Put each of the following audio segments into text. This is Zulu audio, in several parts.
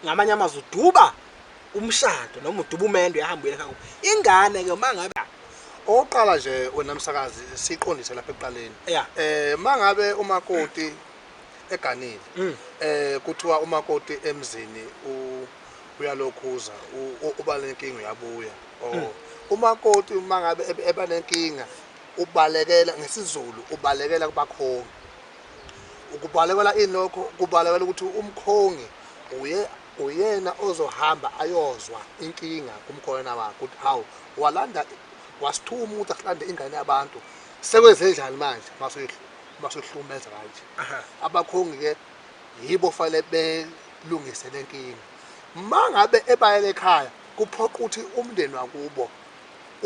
ngamanye amazwi uduba umshado noma uduba umendo yahamba uyela ekhaya kubo. ingane ke uma ngabe Okokuqala nje wena msakazi siqondise lapha ekuqaleni. Yeah. Eh mangabe umakoti eganile Mm. eh kuthiwa umakoti emzini u- uyalokhuza u- u- uba lenkinga uyabuya. Mm. Oh. Umakoti mangabe ebe- eba nenkinga ubalekela ngesizulu ubalekela kubakhongi. Ukubalekela ini lokho? Kubalekela ukuthi umkhongi uye uyena ozohamba ayozwa inkinga kumkhona wakho ukuthi hawu walanda wasithuma ukuthi asilande ingane yabantu sekwenzenjani manje masoyihlumeza kanje abakhongi ke yibo fanele belungise le nkinga uma ngabe ebayele ekhaya kuphoqa ukuthi umndeni wakubo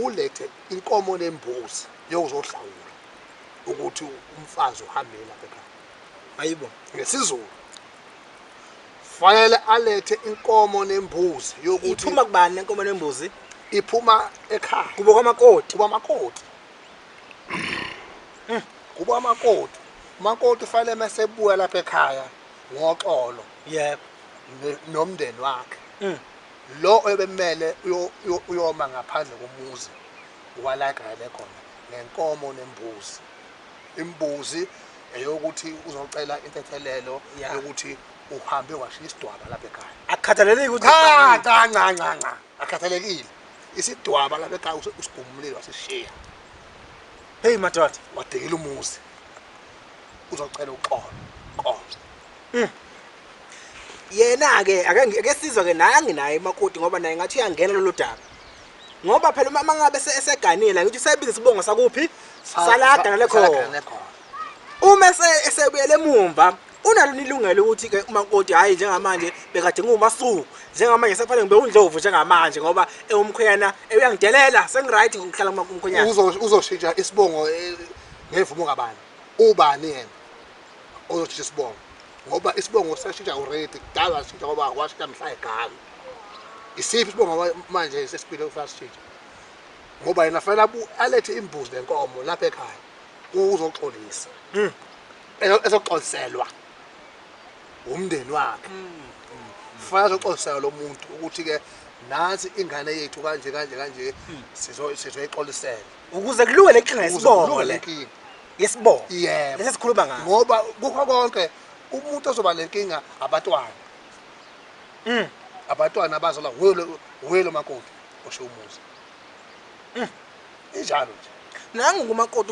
ulethe inkomo nembuzi yokuzohlawula ukuthi umfazi uhambile lapha ekhaya ayibo ngesizulu fanele alethe inkomo nembuzi yokuthi iphuma kubani lenkomo nembuzi iphuma ekhaya kubo kwamakoti kuba amakoti Hmm. kuba amakoti umakoti ufanele mese ebuya lapha ekhaya ngoxolo yebo ne- nomndeni wakhe Mm. lo ebemele uyo- uyo- uyoma ngaphandle komuzi Walaka ebekhona nenkomo nembuzi. Imbuzi eyokuthi uzocela intethelelo Ya. yokuthi uhambe washiya isidwaba lapha ekhaya. Akukhathaleleki ukuthi Cha cha nca nca nca. Akhathalekile. Isidwaba lapha ekhaya usi- usigumulile wasishiya. Hey madoda. Wadikila umuzi. Uzocela uxolo. Xolo. Yena ke ake ake sizwe ke naye anginaye makoti ngoba naye ngathi uyangena lolu daba. ngoba phela uma mangabe eseganile ngithi usebiza isibongo sakuphi salaga nalekhona uma esebuyele emumva unalo nilungele ukuthi ke umakoti hayi njengamanje bekade ngumasuku njengamanje sefanele ngibe undlovu njengamanje ngoba ewumkhwena eyangidelela sengiright ngihlala kumakumkhwenyana uzoshintsha isibongo eh, ngevumo kabani ubani yena ozoshintsha isibongo ngoba isibongo sashintsha already kudala washintsha ngoba washintsha mhla egalo isiphi isibongo manje sesipile ufuna sishintshe ngoba yena fanele alethe imbuzi nenkomo lapha ekhaya uzoxolisa hmm. ezoxoliselwa umndeni wakhe hmm. fanele azoxoliselwa lo muntu ukuthi-ke nansi ingane yethu kanje kanje kanje hmm. sizoyixolisela ukuze kulunge le nkinga yesibongo le nkinga yesibongo Yebo. lesi sikhuluma ngaso ngoba kukho konke umuntu ozoba nenkinga abatwana Mm. abatwana abazalwa wuye lo- wuye lo makoti osho umuzi Mm. injalo nje nangu kumakoti